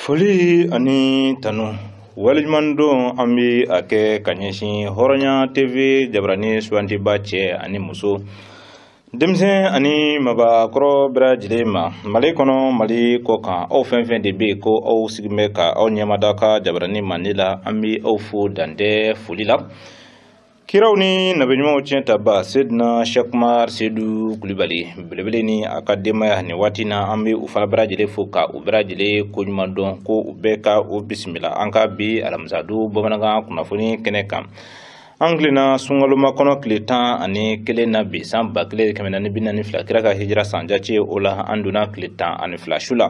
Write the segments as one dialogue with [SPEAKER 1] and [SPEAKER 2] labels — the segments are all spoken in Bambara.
[SPEAKER 1] foli ani tanu waliɲumandɔn an bɛ a kɛ ka ɲɛsin hɔrɔnya tv jabarani sugantiba cɛ ani muso denmisɛn ani mabakɔrɔ bɛɛ lajɛlen ma mali kɔnɔ mali kɔ kan aw fɛn fɛn de bɛ yen ko aw sigilen bɛ ka aw ɲɛmada ka jabarani mande la an bɛ aw fo dantɛ foli la kiraw ni nabiɲumanw tiɲɛ ta ba sedina shakumar sedu kulibali belebele ni a ka denbaya nin waati na an bɛ u fana bɛɛ lajɛlen fo ka u bɛɛ lajɛlen ko ɲuman dɔn ko u bɛɛ ka u bisimila an ka bi alamisadon bamanankan kunnafoni kɛnɛ kan an tilenna sunkalomakɔnɔ tile tan ani kelen na bi san ba kelen kɛmɛ naani bi naani fila kira ka hijira san jace o la an donna tile tan ani fila su la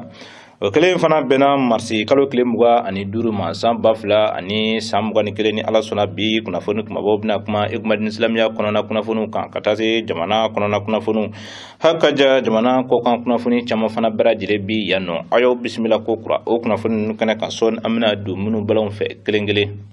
[SPEAKER 1] o kelen fana bɛnna marisi kalo tile mugan ani duuru ma san ba fila ani san mugan ni kelen ni ala sɔnna bi kunnafoni kumabaw bɛna kuma i komi dini silamɛya kɔnɔna kunnafoniw kan ka taa se jamana kɔnɔna kunnafoniw hakaja jamana kɔkan kunnafoni caman fana bɛɛ lajɛlen bi yan nɔ a y'aw bisimila ko kura o kunnafoni ninnu kɛnɛ kan sɔɔni an bɛna don minnu ba la aw fɛ kelen kelen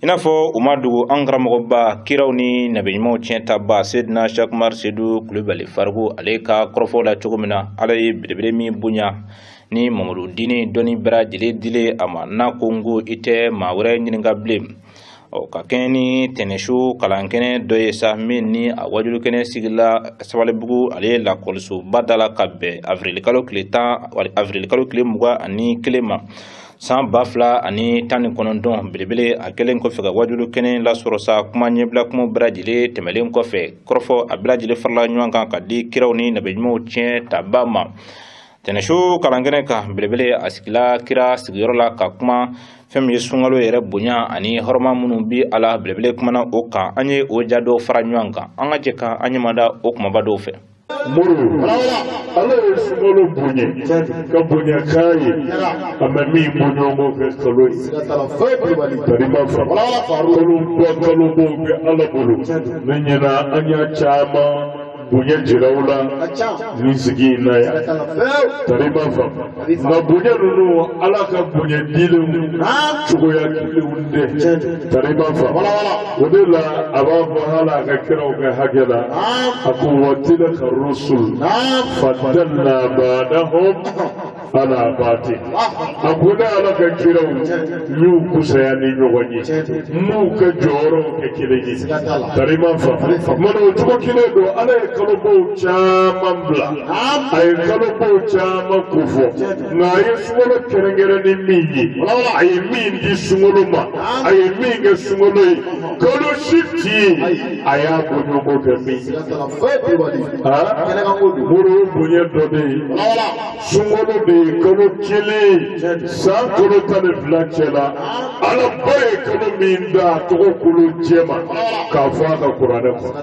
[SPEAKER 1] i n'a fɔ o ma dogo an karamɔgɔba kiraw ni nabiɲumanw tiɲɛ ta ba sedina shakumar sedu kulubali faruku ale ka kɔrɔfɔw la cogo min na ala ye belebele min bonya ni mamadu dini dɔnni bɛɛ lajɛlen dilen a ma n'a ko n ko i tɛ maa wɛrɛ ɲininka bilen ɔ ka kɛɲɛ ni tɛnɛsu kalankɛnɛ dɔ ye sa min ni a wajulukɛnɛ sigila sabalibugu ale ye lakɔlisoba da la ka bɛn avirilikalo tile tan avirilikalo tile mugan ani kelen ma san ba fila ani tan ni kɔnɔntɔn belebele a kɛlen kɔfɛ ka wajulu kɛnɛ lasɔrɔ sa kuma ɲɛbila kuma bɛɛ lajɛlen tɛmɛlen kɔfɛ kɔrɔfɔ a bɛɛ lajɛlen farala ɲɔgɔn kan ka di kiraw ni nabiɲumanw tiɲɛ taba ma tɛnɛsu kalankɛnɛ kan belebele a sigila kira sigiyɔrɔ la ka kuma fɛn min ye sunkalo yɛrɛ bonya ani hɔrɔma minnu bi a la belebele kumana o kan an ye o ja dɔw fara ɲɔgɔn kan an ka jɛ ka an ɲɛmada o kumaba dɔw fɛ
[SPEAKER 2] muru ala ye sunkalo bonya ka bonya k'a ye a ma min bɔ ɲɔgɔn fɛ kalo ye tari ma faamu kaloba kalobaw bɛ ala bolo ne ɲɛna an y'a caman bonya jira aw la nin sigi in na yan tari ma fa nka bonya ninnu ala ka bonya dilenw cogoya kelen tɛ tari ma faamu o de la a b'a fɔ hali a ka kiraw ka hakɛ la a ko wa tilika rusul fadalna ba'dahum ala baadi a ko ne ala ka kiraw n y'u kusaya ni ɲɔgɔn ye n m'u ka jɔyɔrɔw kɛ kelen ye tari ma faamu o cogo kelen don ala ye kalobaw caman bila a ye kalobaw caman ko fɔ nka a ye sunkalo kɛrɛnkɛrɛn ni min ye a ye min di sunkalo ma a ye min kɛ sunkalo ye kalo si tɛ yen a y'a bɔ ɲɔgɔn kɛ min ye mori bonya dɔ de ye sunkalo de ye kalo kelen san kalo tan ni fila cɛ la ala ba ye kalo min ta a tɔgɔ kolo jɛma k'a fɔ a ka kuranɛ kɔnɔ.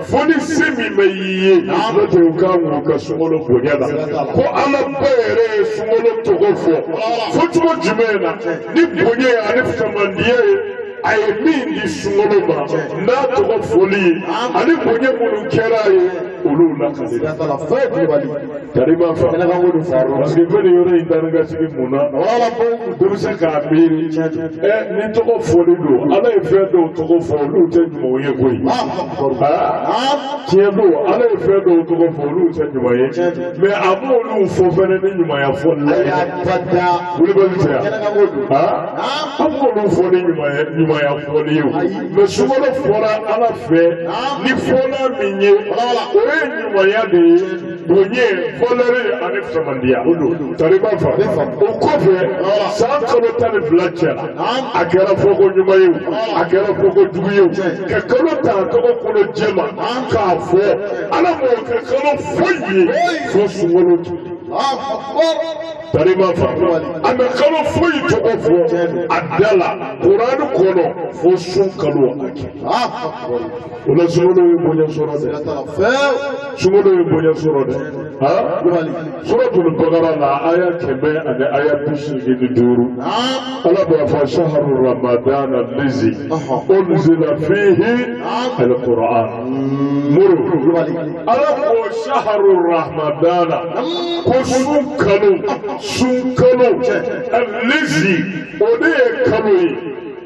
[SPEAKER 2] fo ni se min bɛ y'i ye n'o tɛ u ka wuli ka sunkalo bonya la ko ala ba yɛrɛ ye sunkalo tɔgɔ fɔ fɔcogo jumɛn na ni bonya ye ani fusamandiya ye a ye min di sunkalo ma n'a tɔgɔ fɔli ye ani bonya minnu kɛra a ye olu lakali. Tariba fa Tariba ko fa parce que ko yɔrɔ in ta ka sigi mun na wala ko dɔ bɛ se k'a miiri ɛ ni tɔgɔ fɔli don ala ye fɛn dɔw tɔgɔ fɔ olu tɛ ɲumanw ye koyi tiɲɛ don ala ye fɛn dɔw tɔgɔ fɔ olu tɛ ɲuman ye mais a m'olu fɔ fɛnɛ ni ɲumanya fɔli la ye kulubali tɛ yan a m'olu fɔ ni ɲumanya ɲumanya fɔli ye mais sunkalo fɔra ala fɛ ni fɔla min ye o ye ɲumanya de ye. bonya valɛri ani fusamandiya tariba fa o kɔfɛ san kalo tan ni fila cɛla a kɛra fɔko ɲuman ye o a kɛra fɔko jugu ye o ka kalo ta a tɔgɔ kolo jɛma k'a fɔ ala m'o kɛ kalo foyi ye fo sunkalo. Tariba fa a ma kalo foyi tɔgɔ fɔ a da la kuranɛ kɔnɔ fo sun kalo a kɛ. o la sunkalo ye bonya sɔrɔ dɛ sunkalo ye bonya sɔrɔ dɛ suratul bakara la aya kɛmɛ ani aya bi seegin ni duuru ala b'a fɔ saharu ramadan lizi unzila fihi alquran muru ala ko saharu ramadan ko sun kalo sun kalo lizi o de ye kalo ye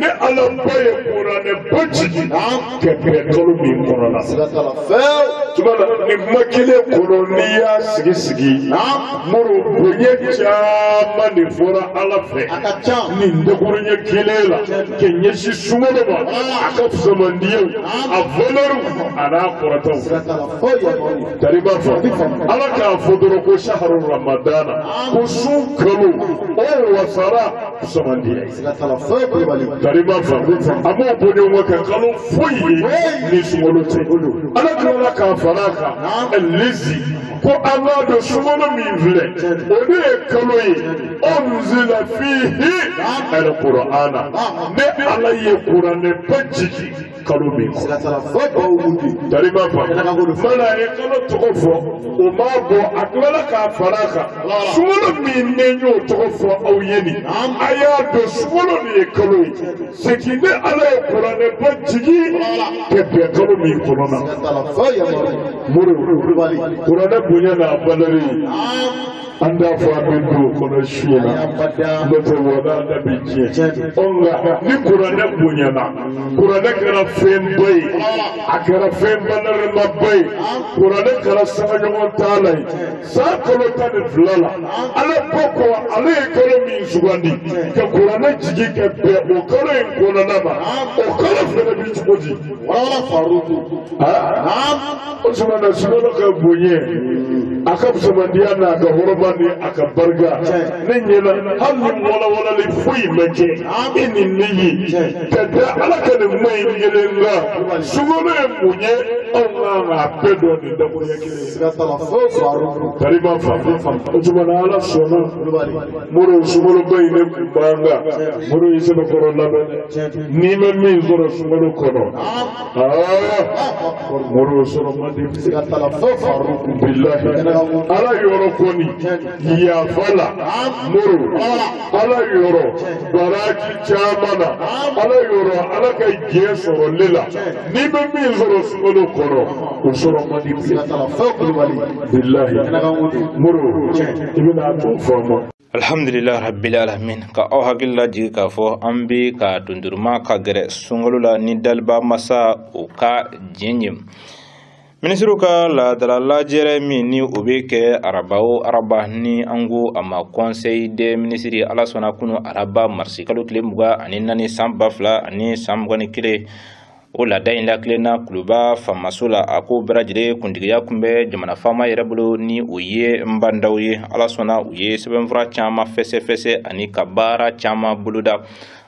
[SPEAKER 2] ne ala ba ye kuranɛ ba jigin ka kɛ kalo min kɔnɔ la tuma na nin kuma kelen kɔnɔ n'i y'a sɛgɛsɛgɛ mori bonya caman de fɔra ala fɛ nin dakuruɲɛ kelen la ka ɲɛsin sunkalo ma a ka fusamandiyaw a valɛriw an'a kɔrɔtaw tariba fa ala k'a fɔ dɔrɔn ko saharu ramadana ko sun kalo o wasara fusamandiya ye. foyi kulubali tariba fa a m'o bɔ ɲɔgɔn kɛ kalo foyi ni sunkalo tɛ ala tilala k'a fara a kan lezi ko an b'a dɔn sunkalo min filɛ o de ye kalo ye unzila fihi alkurana ne ala ye kuranɛ ba jigin. kalo min kɔ tariba fa fana ye kalo tɔgɔ fɔ o ma bɔ a tilala k'a fara a kan sunkalo min ne y'o tɔgɔ fɔ aw ye nin a y'a dɔn sunkalo de ye kalo ye c'est que ne ala ye kuranɛba jigin ka bɛn kalo min kɔnɔna mori kuranɛ bonya n'a valeur an t'a fɔ an bɛ don o kɔnɔ su in na n'o tɛ wala da bɛ tiɲɛ ɔ nka ni kuranɛ bonyana kuranɛ kɛra fɛnba ye a kɛra fɛn valeurmaba ye kuranɛ kɛra sangaɲɔgɔn t'a la ye san kalo tan ni fila la ala ko ko ale ye kalo min sugandi ka kuranɛ jigin ka bɛn o kalo in kɔnɔna ma o kalo fana bɛ cogo di. O tuma na sunkalo ka bonya a ka fusamandiya n'a ka hɔrɔma ni a ka barika ne ɲɛna hali ni walawalali foyi ma kɛ e ni ne ye ka da ala ka nin kuma in kelen la sunkalo ye mun ye anw kan k'a bɛɛ dɔn nin dakuruɲɛ kelen ye. siga t'a la foyi sɔrɔ a rɔ. tariba fa o tuma na ala sɔnna mori sunkaloba in ne kun b'an kan mori y'i sɛbɛkɔrɔ labɛn n'i ma min sɔrɔ sunkalo kɔnɔ. mori sɔrɔ man di bilahi ala yɔrɔ kɔni yafa la mori ala yɔrɔ baraji caman na ala yɔrɔ ala ka diɲɛ sɔrɔli la n'i bɛ min sɔrɔ sunkalo kɔnɔ o sɔrɔ man di bilahi mori i bɛna a tɔ faamu.
[SPEAKER 1] alhamdulillah rabbil alamin ka aw hakili lajigi k'a fɔ an bɛ ka dunduruma ka gɛrɛ sunkalo la ni daliba masa o ka diɲɛ ye minisiriw ka laadala lajɛrɛ min ni o bɛ kɛ araba o araba ni an ko a ma conseil des ministres ala sɔnna kunu araba marisi kalo tile mugan ani naani san ba fila ani san mugan ni kelen o laada in lakilenna kuluba faamaso la a ko bɛɛ lajɛlen kuntigiya tun bɛ jamana faama yɛrɛ bolo ni o ye ba ndaw ye ala sɔnna u ye sɛbɛnfura caman fɛsɛfɛsɛ ani ka baara caman boloda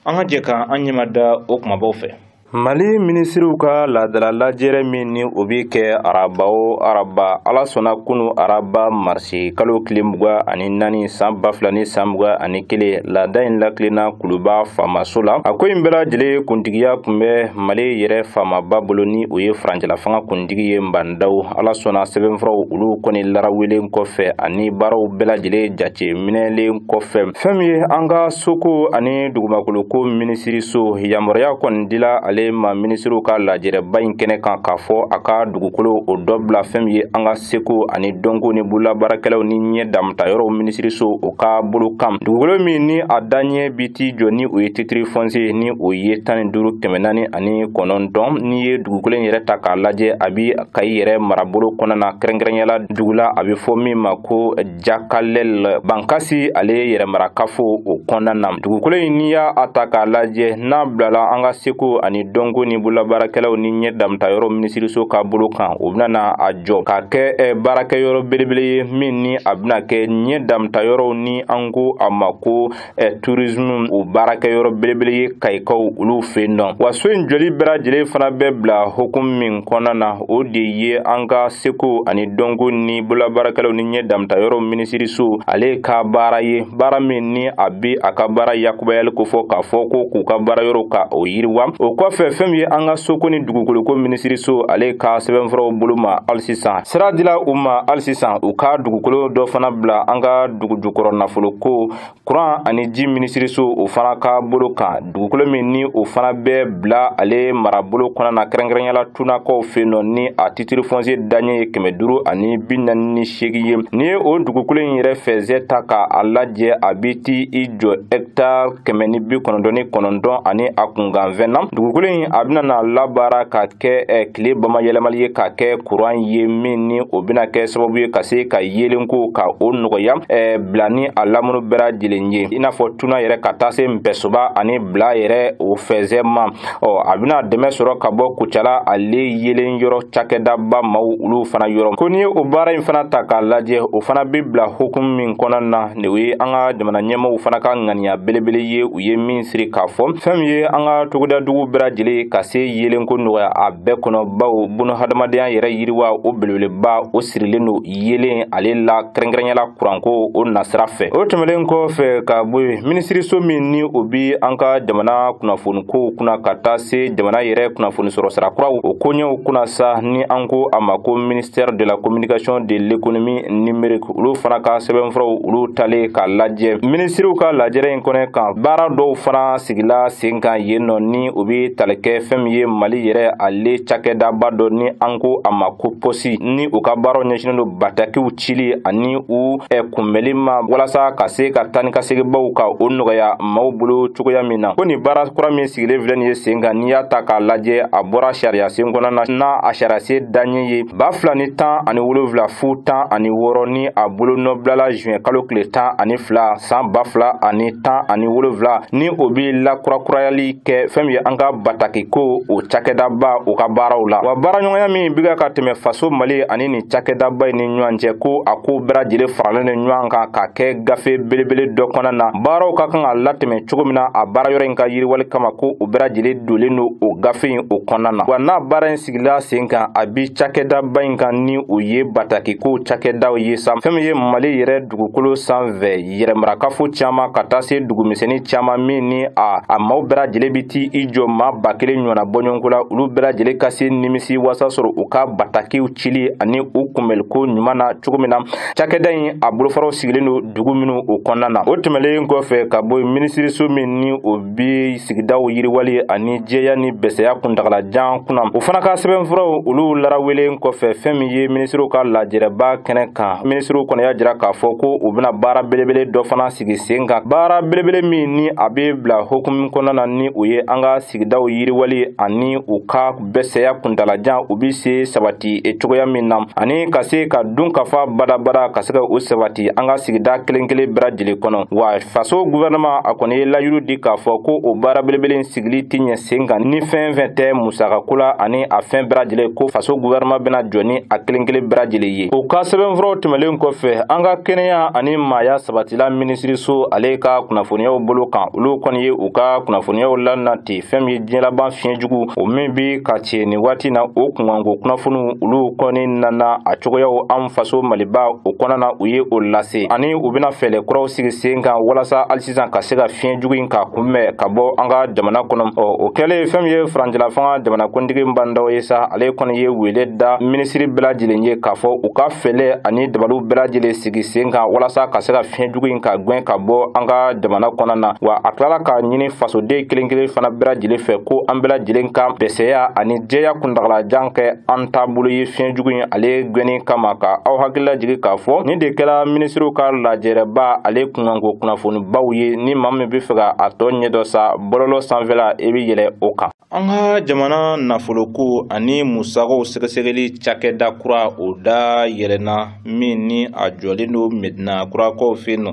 [SPEAKER 1] an ka jɛ ka an ɲɛ mada o kumabaw fɛ mali minisiriw ka laadala lajɛrɛ min ni o bɛ kɛ araba o araba ala sɔnna kunu araba mars si kalo tile mugan ani naani san ba fila ni san mugan ani kelen laada in lakilenna kuluba faamaso la a ko in bɛɛ lajɛlen kuntigiya tun bɛ mali yɛrɛ faamaba bolo ni o ye furancɛlafanga kuntigi ye ba ndaw ala sɔnna sɛbɛnfuraw olu kɔni larawelen kɔfɛ ani baaraw bɛɛ lajɛlen jateminɛlen kɔfɛ fɛn min ye an ka soko ani dugumakoloko minisiriso yamaruya kɔni dila ale ma minisiriw ka lajɛrɛba in kɛnɛ kan k'a fɔ a ka dugukolo o dɔ bila fɛn min ye an ka seko ani dɔnko ni bololabaarakɛlaw ni ɲɛ damuta yɔrɔw minisiriso o ka bolo kan dugukolo min ni a daɲɛ bi t'i jɔ ni o ye titiri fɔnsiye ni o ye tan ni duuru kɛmɛ naani ani kɔnɔntɔn n'i ye dugukolo in yɛrɛ ta k'a lajɛ a bi kayi yɛrɛ marabolo kɔnɔna na kɛrɛnkɛrɛnyala dugula a bɛ fɔ min ma ko Jakalɛl Bangasi ale ye yɛrɛmarakafo o kɔnɔna na. Dugukolo in n'i y'a a ta k'a lajɛ n'a bilala an ka seko ani dɔnko ni bololabaarakɛlaw ni ɲɛ damuta yɔrɔ minisiriso ka bolo kan, o bɛna a jɔ ka kɛ baarakɛyɔrɔ belebele ye min ni a bɛna kɛ ɲɛ damuta yɔrɔw ni an ko a ma ko eh, tourisme o baarakɛyɔrɔ belebele ye kayikaw olu fɛ yen nɔ wa so in jɔli bɛɛ lajɛlen fana bɛ bila hukumu min kɔnɔna na o de ye an ka seko ani dɔnko ni bololabaarakɛlaw ni ɲɛ damuta yɔrɔ minisiriso ale ka baara ye baara min ni a bɛ a ka baara yakubayali kofɔ k'a fɔ ko k'u ka baara yɔrɔ ka o yiriwa o kɔfɛ fɛn min ye an ka soko ni dugukoloko minisiriso ale ka sɛbɛnfuraw bolo ma hali sisan sira dila u ma hali sisan u ka dugukolo dɔ fana bila an ka dugujukɔrɔ nafoloko kuran ani ji minisiriso o fana ka bolo kan dugukolo min ni o fana bɛ bila ale marabolo kɔnɔ na kɛrɛnkɛrɛnya la tunakaw fɛ nɔ ni a titiri fɔnsiye daɲɛ ye kɛmɛ duuru ani bi naani ni seegin ye n'i ye o dugukolo in yɛrɛ fɛzɛ ta ka a lajɛ a bɛ t'i jɔ hɛkitari kɛmɛ ni bi kɔnɔntɔn ni kɔnɔntɔn ani a kunkanfɛn na dugukolo in a bɛna na labaara ka kɛ tile bamayɛlɛmali ye ka kɛ kuran ye min ni o bɛna kɛ sababu ye ka se ka yeelenko ka o nɔgɔya eh, bila ni a lamunu bɛɛ lajɛlen ye i n'a fɔ tuna yɛrɛ ka taa se npɛsoba ani bila yɛrɛ o fɛzɛ ma ɔ a bɛna dɛmɛ sɔrɔ ka bɔ kucala ale yeelen yɔrɔ cakɛdaba maw olu fana yɔrɔ ko n'i ye o baara in fana ta k'a lajɛ o fana bɛ bila hukumu min kɔnɔ na ni o ye an ka jamana ɲɛmɔgɔw fana ka ŋaniya belebele ye u ye min siri k'a fɔ fɛn min ye an ka togodadugu bɛɛ lajɛlen ka se yeelenko nɔgɔya a bɛɛ kɔnɔ bawo bunahadamadenya yɛrɛ yiriwa o belebeleba o sirilen don yeelen ale la kɛrɛnkɛrɛnyala kuranko o nasira fɛ o tɛmɛlen kɔfɛ ka bɔ yen minisiriso min ni o bi an ka jamana kunnafonikow kunna ka taa se jamana yɛrɛ kunnafoni sɔrɔ sira kuraw o koɲɛw kunna sa ni an ko a ma ko ministère de la communication de l'économie numérique olu fana ka sɛbɛnfuraw olu talen k'a lajɛ minisiriw ka lajɛrɛ in kɛnɛ kan baara dɔw fana sigila sen kan yen nɔ ni u be tali kɛ fɛn min ye mali yɛrɛ ale cakɛdaba dɔ ni an ko a ma ko pɔsi ni u ka baaraw ɲɛsinnen don batakiw cili ani u ɛ kunbɛli ma walasa ka se ka taa ni ka seginbaw ka o nɔgɔya maw bolo cogoya min na ko nin baara kura min sigilen filɛ nin ye sen kan n'i y'a ta k'a lajɛ a bɔra sariya sen kɔnɔ na n'a a sariya sen daɲɛ ye ba fila ni tan ani wolonfila fu tan ani wɔɔrɔ ni a bolonɔ bilala juin kalo tile tan ani fila san ba fila ani tan ani wolonfila ni o be lakurakurayali kɛ fɛn min ye an ka batakiko o cakɛdaba o ka baaraw la wa baaraɲɔgɔnya min biga ka tɛmɛ faso mali ani nin cakɛdaba in ni ɲɔgɔn cɛ ko a ko bɛɛ lajɛlen faralen ni ɲɔgɔn kan ka kɛ gafe belebele dɔ kɔnɔ na baaraw ka kan ka latɛmɛ cogo min na a baara yɔrɔ in ka yiriwali kama ko o bɛɛ lajɛlen dolen don o gafe in o kɔnɔna na wa n'a baara sigila sen kan a bi cakɛdaba in kan ni o ye batakiko cakɛdaw ye sa fɛn min ye mali yɛrɛ dugukolo sanfɛ yɛrɛmarakafo caaman ka taa se dugumisɛni caaman min ni a a maaw bɛɛ lajɛlen bi ti i jɔ maa ba kelen ɲɔgɔnna bɔɲɔgɔnko la olu bɛɛ lajɛlen ka se nimisi wasa sɔrɔ u ka batakiw cili ani u kunbɛliko ɲuman na cogo min na cakɛda in a bolofaraw sigilen don dugu minw o kɔnɔna na o tɛmɛlen kɔfɛ ka bɔ minisiriso min ni o bi sigidaw yiriwali ani jɛya ni bɛsɛya kuntagalajan kunna o fana ka sɛbɛnfuraw olu larawelen kɔfɛ fɛn min ye minisiriw ka lajɛrɛba kɛnɛ kan minisiriw kɔni y'a jira k'a fɔ ko u bɛna baara belebele dɔ fana sigi sen kan baara belebele min ni a bɛ bila hukumu kɔnɔna na ni o ye an ka sigidaw yiriwali ani u ka bɛsɛya kuntalajan u bɛ se sabati e cogoya min na ani ka se ka dunkafa badabada ka se ka o sabati an ka sigida kelen kelen bɛɛ lajɛlen kɔnɔ wa faso guvɛrɛnɛma a kɔni ye layiru di k'a fɔ ko o baara belebele sigili tɛ ɲɛ sen kan ni fɛn fɛn tɛ musakako la ani a fɛn bɛɛ lajɛlen ko faso guvɛrɛnɛma bɛna jɔ ni a kelen kelen bɛɛ lajɛlen ye o ka sɛbɛnfuraw tɛmɛlen kɔfɛ an ka kɛnɛya ani maaya sabatila minisiriso ale ka kunnafoniyaw bolo kan olu kɔni ye u ka kunnafoniyaw lanati fɛn min ye diɲɛlaban fiɲɛ jugu o min bɛ ka cɛ nin waati na o kunkanko kunnafoniw olu kɔni nana a cogoyaw an faso maliba o kɔnɔna na u ye o lase ani u bɛna fɛɛrɛ kuraw sigi sen kan walasa hali sisan ka se ka fiɲɛ jugu in ka kunbɛn ka bɔ an ka jamana kɔnɔ ɔ o kɛlen fɛn min ye furancɛlafanga jamanakuntigi Ba Ndaw ye sa ale kɔni ye wele da minisiri bɛɛ lajɛlen ye k'a fɔ u ka fɛɛrɛ ani dabaliw bɛɛ lajɛlen sigi sen kan walasa ka se ka fiɲɛ jugu in ka gwɛn ka bɔ an ka jamana kɔnɔna na wa a tilala ka ɲini fasoden kelen kelen fana bɛɛ lajɛlen fɛ ko an bɛɛ lajɛlen ka bɛsɛya ani jɛya kuntagalajan kɛ an taabolo ye fiɲɛ jugu in ale gwɛnni kama ka aw hakili lajigi k'a fɔ nin de kɛla minisiriw ka lajɛrɛba ale kunkanko kunnafonibaw ye ni maa min bɛ fɛ ka a tɔ ɲɛdɔn sa bɔlɔlɔ sanfɛla i bɛ yɛlɛ o kan An ka jamana nafoloko ani musakaw sɛgɛsɛgɛli cakɛda kura o da yɛlɛna min ni a jɔlen don Medina kurakaw fɛ yen nɔ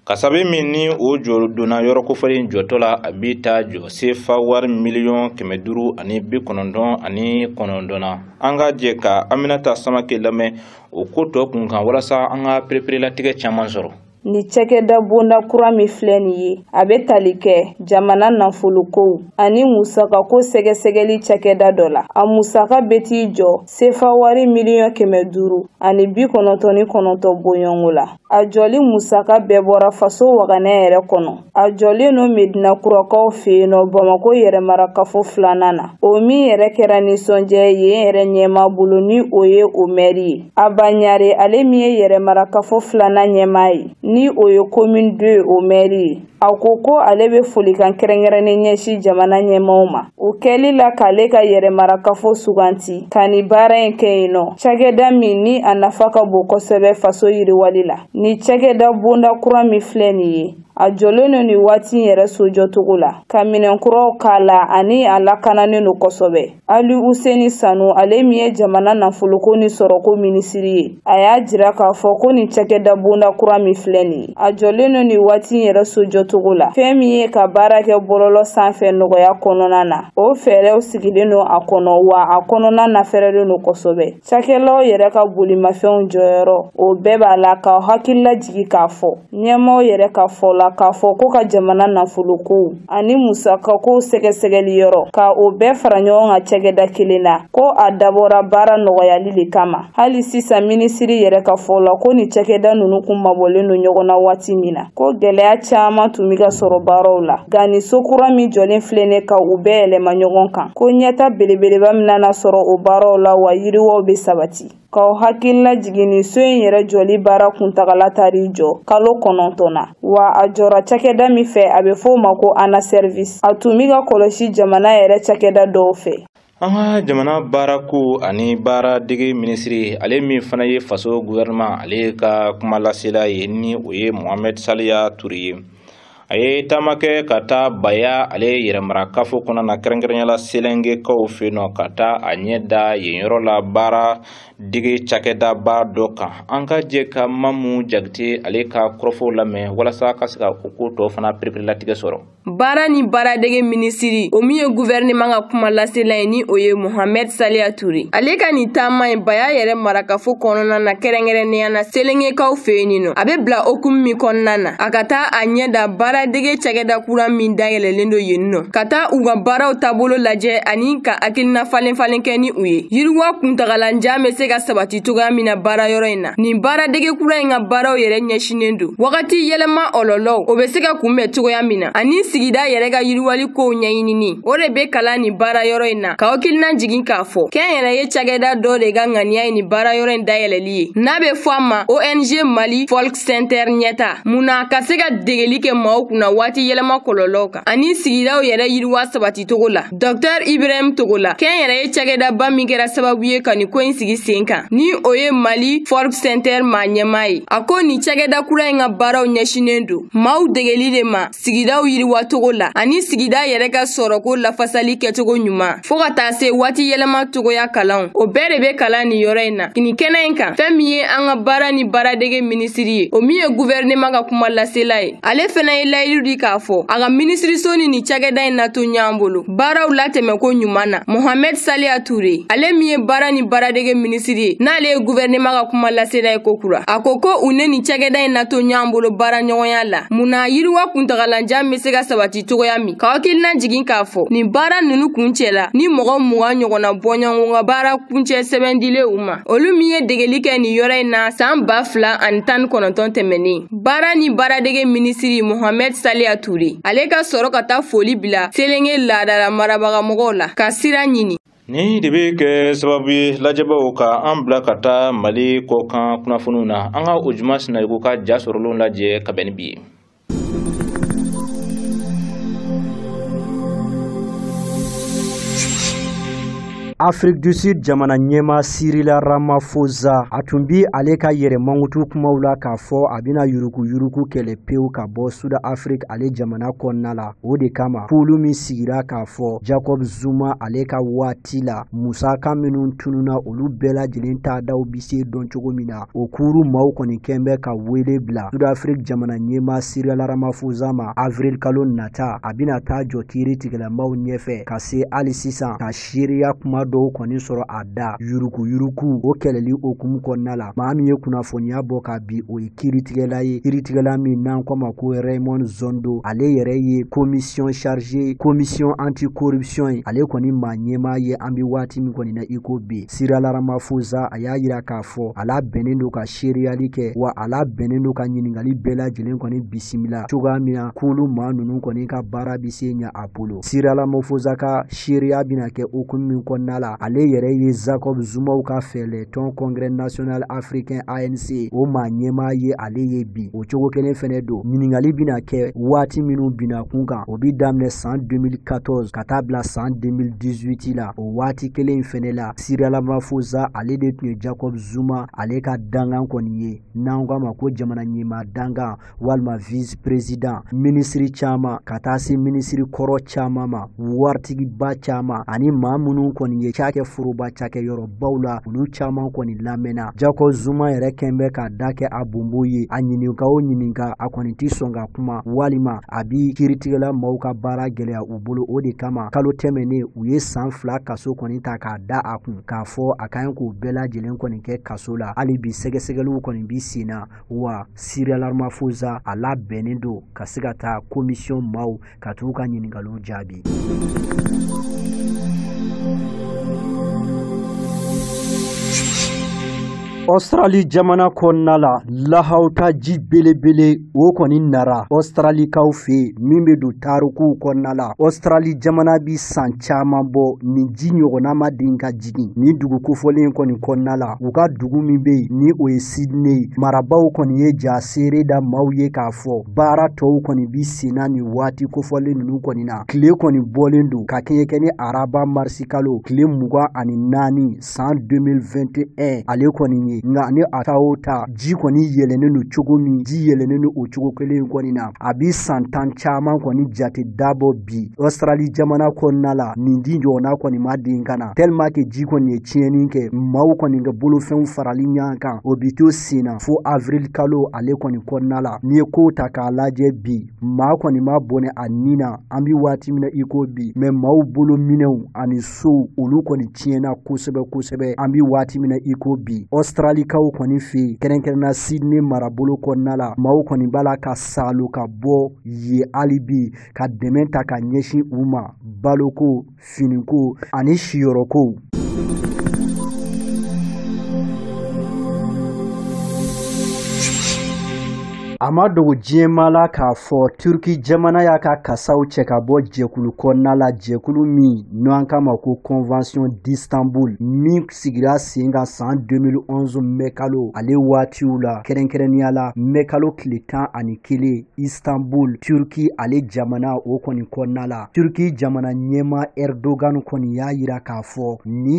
[SPEAKER 1] kasabi min ni o jɔ donna yɔrɔ kofɔlen jɔtɔ la a bɛ taa jɔ sefa wari miliyɔn kɛmɛ duuru ani bi kɔnɔntɔn ani kɔnɔntɔn na an ka jɛ ka Aminata Samake lamɛn o ko tɔ kunkan walasa an ka pereperelatigɛ caman sɔrɔ Ni
[SPEAKER 3] cɛkɛda bonda kura min filɛ nin ye a bɛ tali kɛ jamana nafolokow ani musakako sɛgɛsɛgɛli cɛkɛda dɔ la a musaka bɛ t'i jɔ sefa wari miliyɔn kɛmɛ duuru ani bi kɔnɔntɔn ni kɔnɔntɔn bɔɲɔngo la a jɔli musaka bɛɛ bɔra faso waganɛ yɛrɛ kɔnɔ a jɔlen don medina kurakaw fɛ yen nɔ bamako yɛrɛmarakafo filanan na o min yɛrɛ kɛra nisɔndiya ye yen yɛrɛ ɲɛmaa bolo ni o ye o mɛri ye Aba ɲare ale min ye yɛrɛmarakafo filanan ɲɛmaa ye ni o ye commune deux o mɛri ye a ko ko ale bɛ folikan kɛrɛnkɛrɛnnen ɲɛsin jamana ɲɛmaaw ma o kɛli la k'ale ka yɛrɛmarakafo suganti ka ni baara in kɛ yen nɔ cakɛda min ni a nafa ka bon kosɛbɛ faso yiriwali la ni cakɛda bonda kura min filɛ nin ye a jɔlen don nin waati in yɛrɛ sojɔcogo la ka minɛn kuraw k'a la ani a lakananen don kosɛbɛ aluseni sanu ale min ye jamana nafoloko ni sɔrɔko minisiri ye a y'a jira k'a fɔ ko nin cakɛda bonda kura min filɛ nin ye a jɔlen don nin waati in yɛrɛ sojɔcogo la fɛn min ye ka baara kɛ bɔlɔlɔ sanfɛ nɔgɔya kɔnɔna na o fɛɛrɛw sigilen don a kɔnɔ wa a kɔnɔna nafɛrɛlen don kosɛbɛ Cakɛlaw yɛrɛ ka bolimafɛnw jɔyɔrɔ o bɛɛ b'a la ka hakili lajigi k'a fɔ ɲɛmaaw yɛrɛ ka fɔ la k'a fɔ ko ka jamana nafolokow ani musakakow sɛgɛsɛgɛli yɔrɔ ka o bɛɛ fara ɲɔgɔn kan cɛkɛda kelen na ko a dabɔra baara nɔgɔyali de kama hali sisan minisiri yɛrɛ ka fɔ la ko ni cɛkɛda ninnu kun mabɔlen don ɲɔgɔn na waati min na ko gɛlɛya caman tun bɛ ka sɔrɔ baaraw la nka ni so kura min jɔlen filɛ nin ka u bɛɛ yɛlɛma ɲɔgɔn kan ko ɲɛtaa belebeleba min nana sɔrɔ o baaraw la wa yiriwaw bɛ sabati k'aw hakili lajigi nin so in yɛrɛ jɔli baara kuntagala taar'i jɔ kalo kɔnɔntɔn na wa a jɔra cakɛda min fɛ a bɛ fɔ o ma ko ana service a tun bɛ ka kɔlɔsi jamana yɛrɛ cakɛda dɔw fɛ an ka
[SPEAKER 1] jamana baarako ani baara dege minisiri ale min fana ye faso guvɛrɛnɛman ale ka kuma lasela ye ni o ye mohamɛd saliya ture ye a ye taama kɛ ka taa baya ale yɛrɛmarakafo kɔnɔna na kɛrɛnkɛrɛnnenya la selengekaw fɛ yen nɔ ka taa a ɲɛ da yen yɔrɔ la baara dege cakɛdaba dɔ kan an ka jɛ ka mamu jakite ale ka kɔrɔfɔw lamɛn walasa ka se ka o ko tɔ fana pereperelatigɛ sɔrɔ baara
[SPEAKER 4] ni baaradege minisiri o min ye guvɛrɛnɛman ka kuma lasela ye ni o ye mohamɛd saliya ture ale ka nin taama ye baya yɛrɛmarakafo kɔnɔna na kɛrɛnkɛrɛnnenya la selengekaw fɛ yen nin nɔ a bɛ bila hukumu min kɔnɔna na a ka taa a ɲɛ da baaradege cakɛda kura min dayɛlɛlen don yen nɔ ka taa u ka baaraw taabolo lajɛ ani ka hakilina falen falen kɛ ni u ye yiriwa kuntagalanjan bɛ se ka sabati cogoya min na baarayɔrɔ in na nin baaradege kura in ka baaraw yɛrɛ ɲɛsinnen don wagati yɛlɛma kɔlɔlɔw o bɛ se ka kunbɛn cogoya min na ani sigida yɛrɛ ka yiriwali kow ɲɛɲinini o de bɛ kalan nin baarayɔrɔ in na ka hakili lajigin k'a fɔ kɛnyɛrɛye cakɛda dɔ de ka ŋaniya ye nin baarayɔrɔ in dayɛlɛli ye n'a bɛ fɔ a ma ong mali sɛntɛr ɲɛtaa mun na ka se ka degeli kɛ maaw kunna waati yɛlɛma kɔlɔlɔw kan ani sigidaw yɛrɛ yiriwa sabati cogo la dɔktɛr ibrahim togola kɛnyɛrɛye cakɛdaba min kɛra sababu ye ka nin ko in sigi sen kan ni o ye mali folk sɛntɛr maa ɲɛmaa ye a ko nin cakɛda kura in ka baaraw ɲɛsinen don maaw degeli de ma sigidaw yiriwacogo la ani sigida yɛrɛ ka sɔrɔko lafasali kɛcogo ɲuman fo ka taa se waati yɛlɛma cogoya kalanw o bɛɛ de be kalan nin yɔrɔ in na nin kɛnɛ in kan fɛn min ye an ka baara ni baaradege minisiri ye o min ye guvɛrɛnɛman ka kuma lasela ye ale fɛnɛ ye layidu di k'a fɔ a ka minisiriso ni nin cakɛda in na to ɲɔgɔn bolo baaraw latɛmɛ ko ɲuman na mohamɛd saliya ture ale min ye baara ni baaradege minisiri ye n'ale ye guvɛrɛnɛma ka kuma lasela ye kokura a ko ko u ni nin cakɛda in na to ɲɔgɔn bolo baara ɲɔgɔnya la mun na yiriwa kuntagalanjan be se ka sabati cogoya min ka hakili lajigin k'a fɔ nin baara nunu kuncɛra ni mɔgɔ mugan ɲɔgɔnna bɔɲɔgɔn ka baara kuncɛ sɛbɛn dili u ma olu min ye degeli kɛ nin yɔrɔ in na san ba fila ani tan ni kɔnɔntɔn tɛmɛnen baara ni baaradege minisiri mohamɛd saliya ture ale ka sɔrɔ ka taa foli bila selenge laadala marabagamɔgɔw la ka sira ɲini Nin de bɛ kɛ
[SPEAKER 1] sababu ye lajɛbaaw ka an bila ka taa Mali kɔkan kunnafoniw na an ka Ojuma Sinayoko ka ja sɔrɔlenw lajɛ ka bɛn ni bi ye.
[SPEAKER 5] Afrique du Sud jamana ɲɛmaa Cyril Ramaphosa, a tun bi ale ka yɛrɛ mankutu kumaw la k'a fɔ a bɛna yuruku-yuruku kɛlɛ pewu ka bɔ Sud Afrique ale jamana kɔnɔna la. O de kama, kulu min sigira k'a fɔ Jacob Zuma ale ka waati la, musaka minnu tununna olu bɛɛ lajɛlen taadaw bi se dɔn cogo min na, o kulu maaw kɔni kɛlen bɛ ka wele bila sudafiriki jamana ɲɛmaa cyril ramaphosa ma avril kalo nata a bɛna taa jɔ kiiritigɛla maaw ɲɛfɛ ka se hali sisan ka seereya kuma dɔw kɔni sɔrɔ a da yurukuyuruku o kɛlɛli hukumu kɔnɔna la maa min ye kunnafoniya bɔ ka bi o ye kiiritigɛla ye kiiritigɛla min n'an k'o ma ko raymond zondo ale yɛrɛ ye komisiyɔn chargée komisiyɔn anti corruption ye ale kɔni maa ɲɛmaa ye an bɛ waati min kɔni na iko bi Cyril Ramaphosa a y'a jira k'a fɔ a labɛnnen don ka seereyali kɛ wa a labɛnnen don ka ɲininkali bɛɛ lajɛlen kɔni bisimila cogoya min na kulu maa ninnu kɔni ka baara bɛ se ɲɛ a bolo Cyril Ramaphosa ka seereya bɛna kɛ hukumu min kɔnɔna la ale yɛrɛ ye Jacob Zumaw ka fɛɛlɛ tɔn congrès national africain ANC o maa ɲɛmaa ye ale ye bi o cogo kelen fɛnɛ don ɲininkali bɛna kɛ waati minnu binna kun kan o bi daminɛ san 2014 ka taa bila san 2018 la o waati kelen fɛnɛ la cyril ramaphosa ale de tun ye jacob zuma ale ka dangan kɔni ye n'an k'a ma ko jamana ɲɛmaa dangan walima vice président minisiri caaman ka taa se minisiri kɔrɔ caaman ma waritigiba caaman ani maa minnu kɔni ye cakɛ foroba cakɛ yɔrɔbaw la olu caaman kɔni lamɛnna jacob zuma yɛrɛ kɛn bɛ k'a da kɛ a bonbo ye a ɲininka o ɲininka a kɔni tɛ sɔn ka kuma walima a bi kiritigɛla maaw ka baara gɛlɛya bolo o de kama kalo tɛmɛnen u ye san fila kaso kɔni ta k'a da a kun k'a fɔ a ka ɲi k'o bɛɛ lajɛlen kɔni kɛ kaso la hali bi sɛgɛsɛgɛliw kɔni bi senna wa cyril ramaphosa a labɛnnen don ka se ka taa komisiyɔn maaw ka t'u ka ɲiningaliw jaabi Australie jamana kɔnɔna la lahawuta ji belebele o kɔni nara Australikaw fɛ yen min bɛ don tarikuw kɔnɔna la Australie jamana bi san caman bɔ nin ji ɲɔgɔnna ma den ka jigin nin dugu kofɔlen kɔni kɔnɔna la u ka dugu min bɛ yen ni o ye Sydney marabaw kɔni ye ja seere da maaw ye k'a fɔ baara tɔw kɔni bi senna nin waati kofɔlen ninnu kɔni na tile kɔni bɔlen don ka kɛɲɛ kɛ ni araba marisi kalo tile mugan ani naani san 2021 ale kɔni ye nka ni a ta o ta ji kɔni yɛlɛnnen don cogo min ji yɛlɛnnen don o cogo kelen kɔni na a bi san tan caman kɔni jate dabɔ bi Australie jamana kɔnɔna la nin ji ɲɔgɔnna kɔni ma den ka na tellement que ji kɔni ye tiɲɛni kɛ maaw kɔni ka bolofɛnw farali ɲɔgɔn kan o bi to senna fo avril kalo ale kɔni kɔnɔna la n'i ye kow ta k'a lajɛ bi maa kɔni ma bɔnɛ a ni na an bi waati min na i ko bi mais maaw bolominɛnw ani sow olu kɔni tiɲɛna kosɛbɛ kosɛbɛ an bi waati min na i ko bi Australikaw kɔni fɛ yen kɛrɛnkɛrɛnna Sydney marabolo kɔnɔna la maaw kɔni b'a la ka salo ka bɔ yen hali bi ka dɛmɛ ta ka ɲɛsin u ma baloko finiko ani siyɔrɔkow a ma dogo diɲɛmaa la k'a fɔ turki jamana y'a ka kasaw cɛ ka bɔ jɛkulu kɔnɔna la jɛkulu min n'an k'a ma ko convention d'istanbul min sigira sen kan san 2011 mɛkalo ale waatiw la kɛrɛnkɛrɛnnenya la mɛkalo tile tan ani kelen istanbul turki ale jamana o kɔni kɔnɔna la turki jamana ɲɛmaa erdogan kɔni y'a yira k'a fɔ ni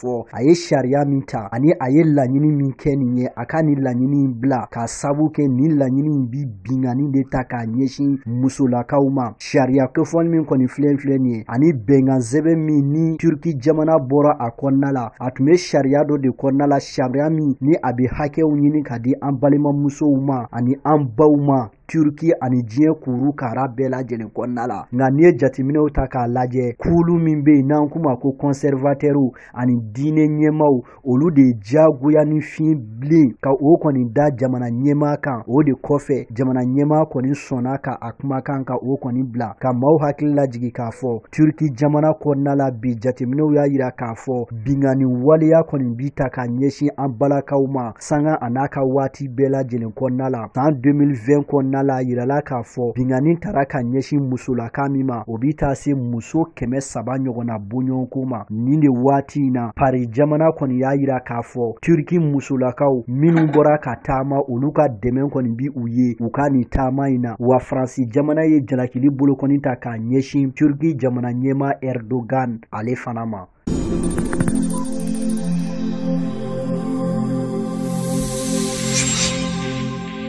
[SPEAKER 5] fɔ a ye sariya min ta ani a ye laɲini min kɛ nin ye a ka nin laɲini in bila k'a sabu kɛ nin laɲini in bi binkanni de ta k'a ɲɛsin musolakaw ma sariya kofɔlen min kɔni filɛ filɛ nin ye ani bɛnkan sɛbɛn min ni turki jamana bɔra a kɔnɔna la a tun bɛ sariya dɔ de kɔnɔna la sariya min ni a bɛ hakɛw ɲini ka di an balimamusow ma ani an baw ma Turki ani diɲɛ kuru kara bɛɛ lajɛlen kɔnɔna la nka n'i ye jateminɛw ta k'a lajɛ kulu min bɛ yen n'an k'u ma ko kɔnsɛrivatɛriw ani diinɛ ɲɛmaaw olu de ye diyagoya ni fiɲɛ bilen ka o kɔni da jamana ɲɛmaa kan o de kɔfɛ jamana ɲɛmaa kɔni sɔnna ka a kumakan ka o kɔni bila ka maaw hakili lajigi k'a fɔ turki jamana kɔnɔna la bi jateminɛw y'a yira k'a fɔ binkanni waleya kɔni bi ta ka ɲɛsin an balakaw ma sanga a n'a ka waati bɛɛ lajɛlen kɔnɔna la san 2020 kɔnɔna la yirala k'a fɔ binkanni tara ka ɲɛsin musolaka min ma o bi taa se muso kɛmɛ saba ɲɔgɔnna bɔɲɔgɔnko ma nin de waati in na pari jamana kɔni y'a yira k'a fɔ turki musolakaw minnu bɔra ka taama olu ka dɛmɛ kɔni bi u ye u ka nin taama in na wa faransi jamana ye jalakili bolokɔni ta k'a ɲɛsin turki jamana ɲɛmaa erdogan ale fana ma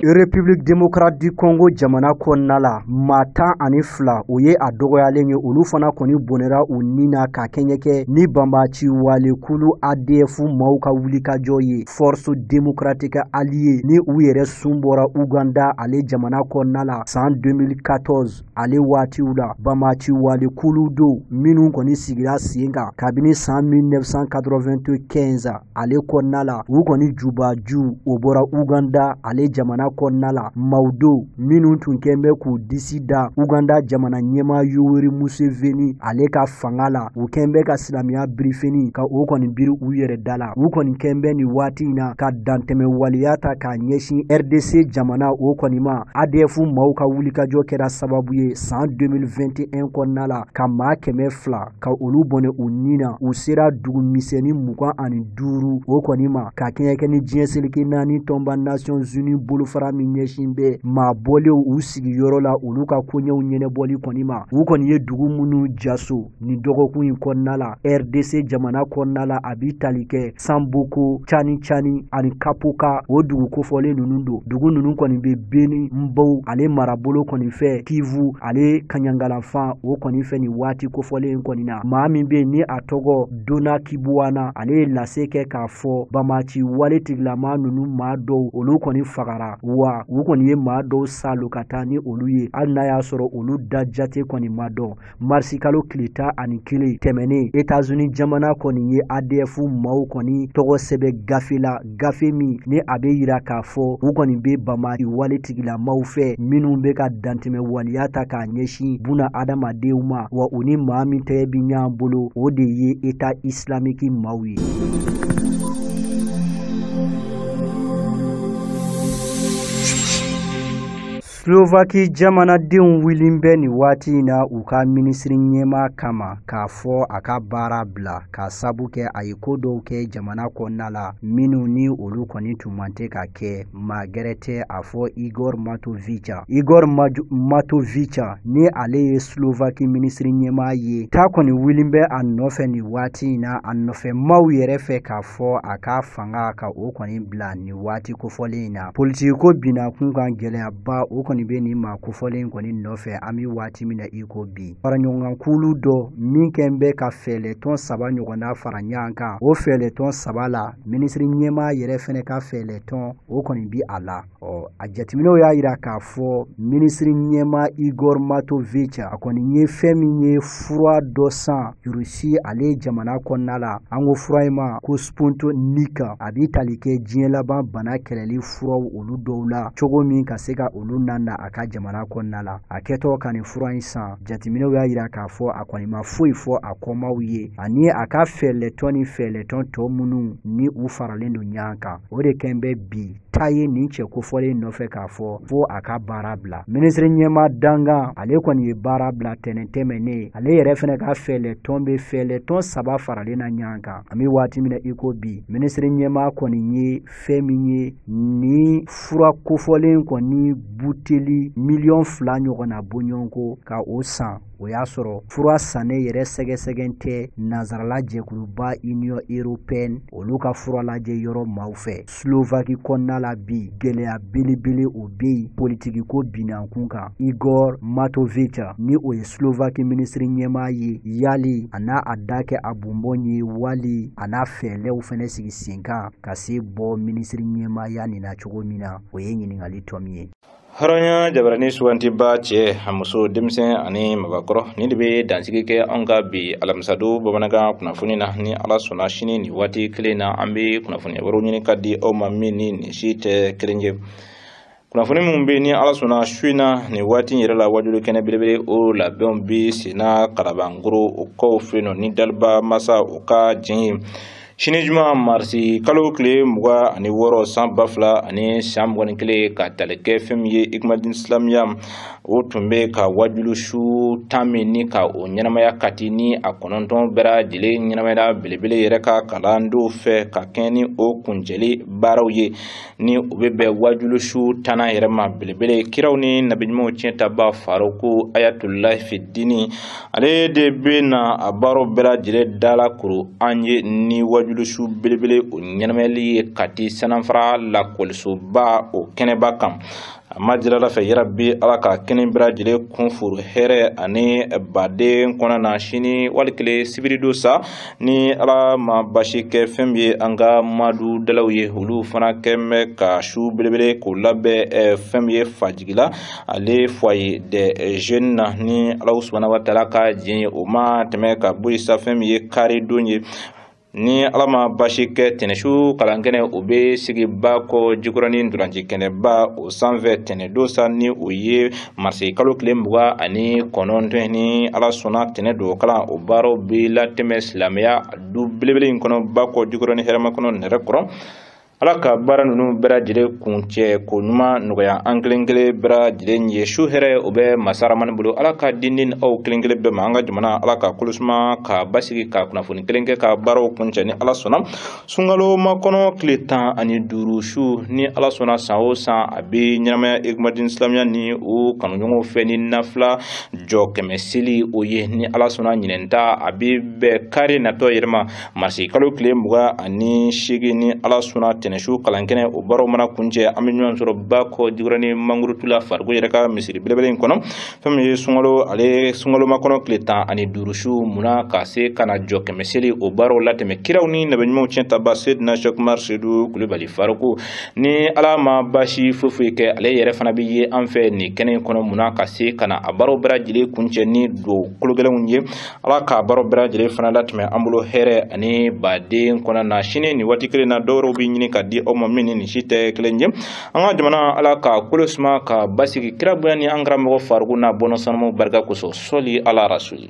[SPEAKER 5] République démocrate du Congo jamana kɔnɔna la maa tan ani fila o ye a dɔgɔyalen ye olu fana kɔni bɔnɛra u ni na ka kɛɲɛ kɛ ni banbaanci walekulu ADF maaw ka wulikajɔ ye Force démocratique alliée ni u yɛrɛ sun bɔra Ouganda ale jamana kɔnɔna la san 2014 ale waatiw la banbaanci wale kulu don minnu kɔni sigira sen kan kabini san 1995 ale kɔnɔna la u kɔni jubaju o bɔra uganda ale jamana kɔnɔna la maaw don minnu tun kɛn bɛ k'u disi da uganda jamana ɲɛmaa yoweri museveni ale ka fanga la u kɛn bɛ ka silamɛya birifini ka o kɔni biri u yɛrɛ da la u kɔni kɛn bɛ nin waati in na ka dantɛmɛ waleya ta k'a ɲɛsin rdc jamana o kɔni ma adf maaw ka wulikajɔ kɛra sababu ye san 2021 kɔnɔna la ka maa kɛmɛ fila ka olu bɔnɛ u ni na u sera dugu misɛnni mugan ani duuru o kɔni ma ka kɛɲɛ kɛ ni diɲɛ seleke naani tɔnba nations unis bolofara min ɲɛsin bɛ maa bɔlenw u sigiyɔrɔ la olu ka koɲɛw ɲɛnabɔli kɔni ma u kɔni ye dugu minnu jaso nin dɔgɔkun in kɔnɔna la rdc jamana kɔnɔna la a bi tali kɛ samboko cani cani ani kapoka o dugu kofɔlen ninnu don dugu ninnu kɔni bɛ beni mbau ale marabolo kɔni fɛ kivu ale kaɲaga yanfan o kɔni fɛ nin waati kofɔlen kɔni na maa min bɛ yen ni a tɔgɔ donat kibwana ale ye lase kɛ k'a fɔ banbaanci wale tigilama ninnu maa dɔw olu kɔni fagara wa u kɔni ye maa dɔw salo ka taa ni olu ye hali n'a y'a sɔrɔ olu da jate kɔni ma dɔn marisikalo tile tan ani kelen tɛmɛnen etazuni jamana kɔni ye adf maaw kɔni tɔgɔ sɛbɛ gafe la gafe min ni a bɛ yira k'a fɔ u kɔni bɛ banbaanci wale tigilamaw fɛ minnu bɛ ka dantɛmɛ waliya ta k'a ɲɛsin buna adamadenw ma wa u ni maa min tɛgɛ bi ɲɔgɔn bolo o de ye eta isilamiki maaw ye slovaki jamanadenw wulilen bɛ nin waati in na u ka minisiri ɲɛma kama k'a fɔ a ka baara bila k'a sabu kɛ a ye ko dɔw kɛ jamana kɔnɔna la minnu ni olu kɔni tun man tɛ ka kɛ maa gɛrɛ tɛ a fɔ igor matovica igor matovica ni ale ye slovaki minisiri ɲɛma ye ta kɔni wulilen bɛ a nɔfɛ nin waati in na a nɔfɛmaaw yɛrɛ fɛ k'a fɔ a ka fanga ka o kɔni bila nin waati kofɔlen in na politikiko binnakunkan gɛlɛyaba o kɔni bɛ nin maa kofɔlen in kɔni nɔfɛ an bɛ waati min na i ko bi faraɲɔgɔnkan kulu dɔ min kɛn bɛ ka fɛɛlɛtɔn saba ɲɔgɔnna fara ɲɔgɔn kan o fɛɛlɛtɔn saba la minisiri ɲɛmaa yɛrɛ fɛnɛ ka fɛɛlɛtɔn o kɔni bɛ a la ɔ a jateminɛw y'a yira k'a fɔ minisiri ɲɛmaa igor matovic a kɔni ye fɛn min ye fura dɔ san rusi ale jamana kɔnɔna la an ko fura in ma ko Sputnik a bi tali kɛ diɲɛ laban bana kɛlɛli furaw olu dɔw la cogo min ka se ka olu nana a ka jamana kɔnɔna la a kɛtɔ ka nin fura in san jateminɛw y'a yira k'a fɔ a kɔni ma foyi fɔ a kɔmaaw ye ani a ka fɛɛlɛtɔn ni fɛɛlɛtɔn tɔ minnu ni u faralen don ɲɔgɔn kan o de kɛn bɛ bi ta ye nin cɛ kofɔlen nɔfɛ k'a fɔ fo a ka baara bila minisiri ɲɛma dankan ale kɔni ye baara bila tɛnɛn tɛmɛnen ale yɛrɛ fɛnɛ ka fɛɛlɛtɔn bɛ fɛɛlɛtɔn saba faralen na ɲɔgɔn kan an bɛ waati min na i ko bi minisiri ɲɛma kɔni ye fɛn min ye ni fura kofɔlen kɔni buteli miliyɔn fila ɲɔgɔnna bɔɲɔgɔnko ka o san o y'a sɔrɔ fura sannen yɛrɛ sɛgɛsɛgɛn tɛ nansarala jɛkuluba union européenne olu ka fura lajɛ yɔrɔ maaw fɛ slovaki kɔnɔna la bi gɛlɛya belebele o bɛ yen politikiko binankunkan igor matovica ni o ye slovaki minisiri ɲɛmaa ye yali a n'a a da kɛ a bonbon ye wali a na fɛɛlɛw fɛnɛ sigi senkan ka se bɔ minisiri ɲɛmaaya nin na cogo min na o ye ɲininkali tomi ye hɔrɔnya
[SPEAKER 1] jabarani sugantiba cɛ a muso denmisɛn ani mabakɔrɔ nin de bɛ dansigi kɛ an ka bi alamisadon bamanankan kunnafoni na ni ala sɔnna sini nin waati kelen na an bɛ kunnafoni wɛrɛw ɲini ka di aw ma min ni nin si tɛ kelen ye kunnafoni minnu bɛ ni ala sɔnna su in na nin waati yɛrɛ la wajuli kɛnɛ belebele o labɛnw bɛ senna kalabankoro o kɔfɛ yen nɔ ni daliba masa o ka jɛn ye sini juma marisi kalo tile mugan ani wɔɔrɔ san ba fila ani san mugan ni kelen ka tali kɛ fɛn min ye ikumadin islamiya o tun bɛ ka wajulu su tan minɛ ka o ɲɛnamaya kati ni a kɔnɔntɔn bɛɛ lajɛlen ɲɛnamayala belebele yɛrɛ ka kalandenw fɛ ka kɛɲɛ ni o kuncɛli baaraw ye ni o bɛ bɛn wajulu su tannan yɛrɛ ma belebele kiraw ni nabiɲumanw cɛntabaa faruku ayatulahi fidini ale de bɛna a baro bɛɛ lajɛlen dala kuru an ye ni wajulu su belebele o ɲɛnamayali ye kati sananfara lakɔlisoba o kɛnɛba kan a ma jirala fɛ yarabi ala ka kɛnɛ bɛɛ lajɛlen kun furu hɛrɛ ani baden kɔnɔ na sini waati kelen sibiridon sa ni ala ma basi kɛ fɛn min ye an ka madu dalaw ye olu fana kɛ bɛ ka su belebele k'o labɛn eh, fɛn min ye fajigila ale foyer des jeunes na ni ala subahana wa taala ka diɲɛ ye o ma tɛmɛ ka bɔ yen sa fɛn min ye karidon ye ni ala ma basi kɛ tɛnɛsu kalankɛnɛ o bɛ sigi bakɔ jikɔrɔni ntolanci kɛnɛba o sanfɛ tɛnɛdon sa ni o ye marisi kalo tile mugan ani kɔnɔntɔn ni ala sɔnna tɛnɛ don kalan o baaraw bɛ latɛmɛ silamɛya du belebele in kɔnɔ bakɔ jikɔrɔni hɛrɛmakɔnɔ nɛrɛkɔrɔ ala ka baara ninnu bɛɛ lajɛlen kuncɛ ko ɲuman nɔgɔya an kelen kelen bɛɛ lajɛlen ye su hɛrɛ o bɛ masa ramani bolo ala ka di ni aw kelen kelen bɛɛ ma an ka jamana ala k'a kolo suma k'a basigi ka kunnafoni kelen kɛ ka baaraw kuncɛ ni ala sɔnna sunkalomakɔnɔ tile tan ani duuru su ni ala sɔnna san o san a bɛ ɲɛnamaya ekumadin silamɛya ni o kanuɲɔgɔnw fɛ ni nafila jɔ kɛmɛ seli o ye ni ala sɔnna ɲinɛn ta a bɛ bɛn kari natɔ yɛrɛ ma marisi kalo tile mugan ani seegin ni ala sɔnna tɛnɛnsu kalankɛnɛ o baaraw mana kuncɛ an bɛ ɲɔgɔn sɔrɔ bakɔ jikɔrɔni mangurutula fariku yɛrɛ ka misiri belebele in kɔnɔ fɛn min ye sunkalo ale sunkalomakɔnɔ tile tan ani duuru su munna ka se ka na jɔ kɛmɛ seli o baaraw latɛmɛ kiraw ni nabi ɲumanw tiɲɛtaba sedina sɛki umari sedu kulubali fariku ni ala ma baasi foyi foyi kɛ ale yɛrɛ fana bɛ yen an fɛ nin kɛnɛ in kɔnɔ munna ka se ka na a baaraw bɛɛ lajɛlen kuncɛ ni duwa kologɛlɛnw ye ala ka baaraw bɛɛ lajɛlen fana latɛmɛ an bolo hɛrɛ ani baden kɔnɔ na sini ni waati kelen na dɔwɛrɛw bɛ ɲini ka di aw ma min ni nin si tɛ kelen ye an ka jamana ala k'a kolo suma k'a basigi kira bonya ni an karamɔgɔ fariku n'a bɔnna sanumaw barika kosɔn sɔli ala rasuli